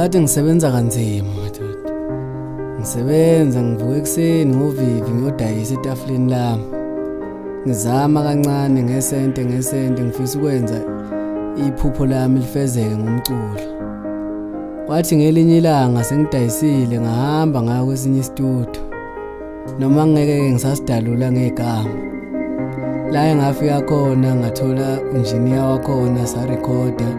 kade ngisebenza kanzima madoda ngisebenza ngivuka ekuseni ngovivi ngiyodayisa etafuleni lami ngizama kancane ngesente ngesente ngifisa ukwenza iphupho lami lifezeke ngomculo Kwathi ngelinye ilanga sengidayisile ngahamba ngaya kwesinye isitudu. Noma ngeke ke ngisasidalula ngegama. La engafika khona ngathola engineer wakhona sa recorder.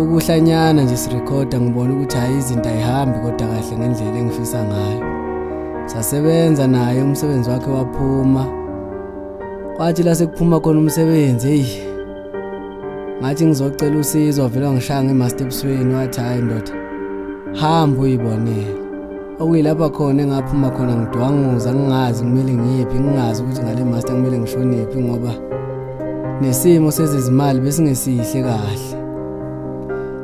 Ukuhlanyana nje si recorder ngibona ukuthi hayi izinto ayihambi kodwa kahle ngendlela engifisa ngayo. Sasebenza naye umsebenzi wakhe waphuma. Kwathi la sekuphuma khona umsebenzi hey ngathi ngizocela usizo wavele wangishaya ngemaster ebusweni wathi hhayi ndoda hamba uyibonele okuyilapha khona engaphuma khona ngidwanguza ngingazi kumele ngiyephi ngingazi ukuthi ngale master kumele ngishonephi ngoba nesimo sezezimali besingesihle kahle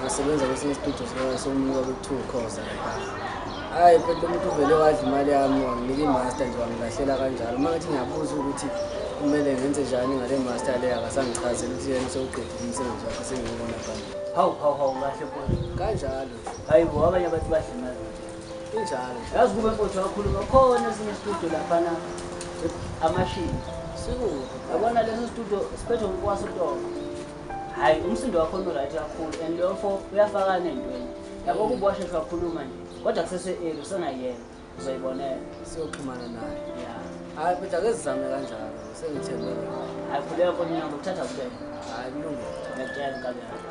ngasebenza kwesinye isitudio sokunyuka kuthiwa ukhoza hhayi futhi umuntu uvele wadla imali yami wanginika imaster nje wangilahlela kanjalo uma ngathi ngiyabuza ukuthi kumele ngenze njani ngale master le akasangichazeli ukuthi yena sewuqedile umsebenzi wakhe sengiwubona phambili hawu hawu hawu kahle futhi kanjalo hhayi bo abanye abantu badla imali injalo yazi kube mfowethu wakhuluma khona esinye isitudio laphana amashini sikuphi yabona leso studio siphethe ngikwaso utoko hayi umsindo wakho unoright kakhulu and lofo uyafakana entweni yabo mm. kuba washesha wakhuluma nje kodwa kusese-eli usengayena uzoyibonela siyoxhumana naye ya hayi futhi akezizame kanjalo sengithembe hayi khuleka konina ngokuthatha kubena hayi kulungile ngiyakutshela nkabi yakho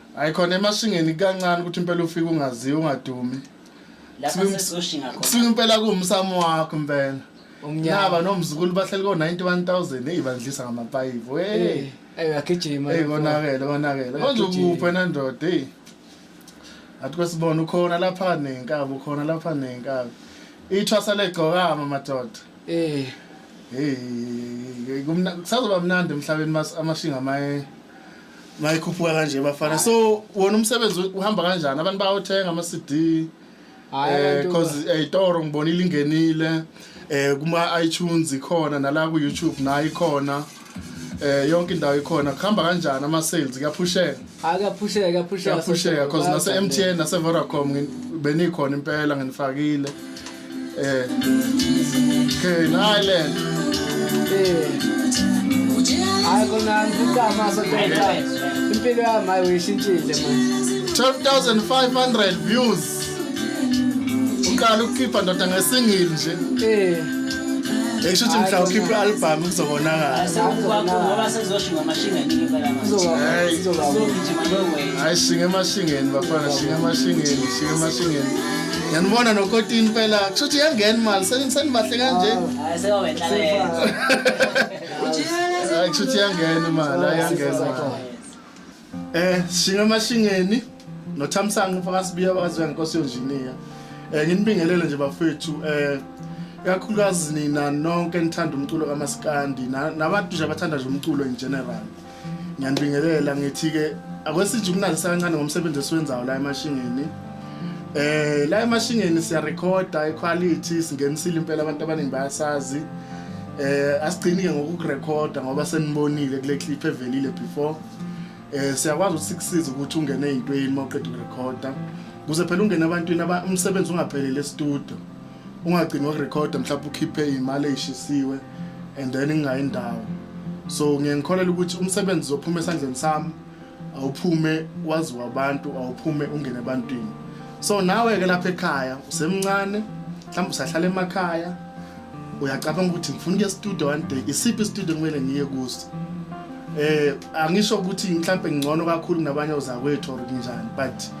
Hayi khona emashingeni kancane ukuthi impela ufike ungaziwa ungadumi. Lapha Sibe- sesoshinga khona. Kusuka impela kuwumsamo wakho impela. Umnyama. Naba nomzukulu bahleli ko 91000 hey bandlisa ngamapayipi. Eh, Hey. eh, agijima Hey lapho. konakele konakele. Konje Agijima. ukuphi wena ndoda hey. Athi kwesibona ukhona lapha nenkabi ukhona lapha nenkabi. Ithwasa legcokama madoda. Eh, Hey kumna kusazoba mnandi emhlabeni mas amashinga maye mayikhuphuka kanje bafana so wona umsebenzi uhamba kanjani abantu bayothenga ama-cd because eyitoro ngibona ilingenile eh kuma-itunes ikhona nala ku-youtube nayo ikhona eh yonke indawo ikhona kuhamba kanjani ama-sales kuyaphusheka akaphusheka kuyaphusheka kuyaphusheka because nase-mtn nase-vodacom ngin- benikhona impela nginifakile Eh. Okay, Island. Eh. Hayi kona ngicama so tayita. Impilo yami hayi uyishintshile manje. 12500 views. Uqala ukukhipha ndoda ngesingili nje. Eh. Esho ukuthi mhla ukhipha i-album kuzobonakala. Ngoba sezoshinga amashingeni ngempela manje. Izogijima no way. Hayi shinga emashingeni bafana, shinga emashingeni, shinga emashingeni. ngiyanibona nokotini phela kusho ukuthi iyangena imali senibahle kanje ah, kusho ukuthi iyangena imali ayangena eh shinga amashingeni nothamsanqa fakasibiya bakaziwa ngenkosi yonjiniya um eh, nginibingelele nje bafethu um kakhulukazi nina nonke nithanda umculo kamasikandi nabantu nje abathanda nje umculo in general ngiyanibingelela ngithi-ke akwesijumunalisa kancane ngomsebenzi esiwenzayo la emashingeni eh la emashingeni siyarekhoda iquality singenisile impela abantu abaningi bayasazi eh asigcini-ke ngokukurekhoda ngoba senibonile kule clip evelile before eh siyakwazi ukuthi sikusize ukuthi ungene ey'ntweni uma uqeda ukurekhoda kuze phela ungene ebantwini umsebenzi ungapheleli estudio ungagcini wakurekhoda mhlawumbe ukhiphe iy'mali ey'shisiwe and then ingayi ndawo so ngiye ngikholelwa ukuthi umsebenzi uzophuma esandleni sami awuphume waziwa abantu awuphume ungene ebantwini so nawe-ke lapha ekhaya usemncane mhlawumbe usahlala emakhaya uyacabanga ukuthi ngifuna ukuya studio one day isiphi istudio kumele ngiye kuso eh angisho ukuthi mhlawumbe ngcono kakhulu kunabanye ozakwethu or kunjani but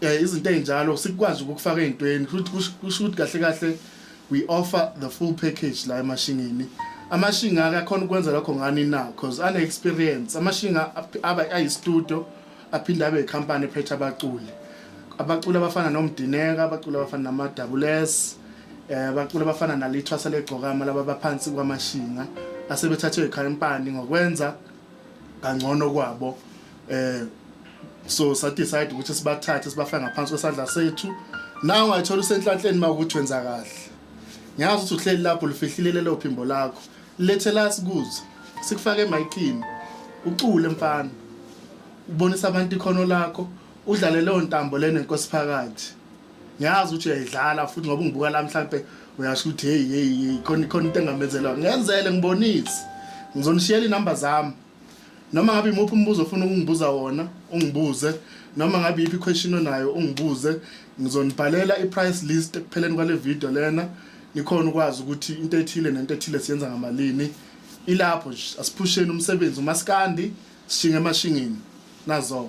eh izinto ezinjalo sikwazi ukufaka ezintweni kusho ukuthi kahle kahle we offer the full package la emashingini amashinga akakhona ukwenza lokho ngani na because ane experience amashinga aba ayi studio aphinde abe company phethe abaculi abaculi abafana nomdineka abaculi abafana nama double S eh abaculi abafana nalithwasa legcokama laba baphansi kwamashinga asebethathwe ikhampani ngokwenza kangcono kwabo eh so sa decide ukuthi sibathathe sibafake ngaphansi kwesandla sethu nawe ungayithola usenhlanhleni uma ukuthi wenza kahle ngiyazi ukuthi uhleli lapho lufihlile lelo phimbo lakho lethe la sikuze sikufake emayikhini ucule mfana ubonisa abantu ikhono lakho udlale leyo ntambo lena inkosi phakathi ngiyazi ukuthi uyayidlala futhi ngoba ungibuka la mhlampe uyasho ukuthi hey hey hey khona khona into engamezelwa ngenzele ngibonise ngizonishiyela inamba zami noma ngabe imuphi umbuzo ofuna ukungibuza wona ungibuze noma ngabe iphi question onayo ungibuze ngizonibhalela i-price list ekupheleni kwale video lena nikhona ukwazi ukuthi into ethile nento ethile siyenza ngamalini ilapho nje asiphusheni umsebenzi umaskandi sishinge emashingini nazo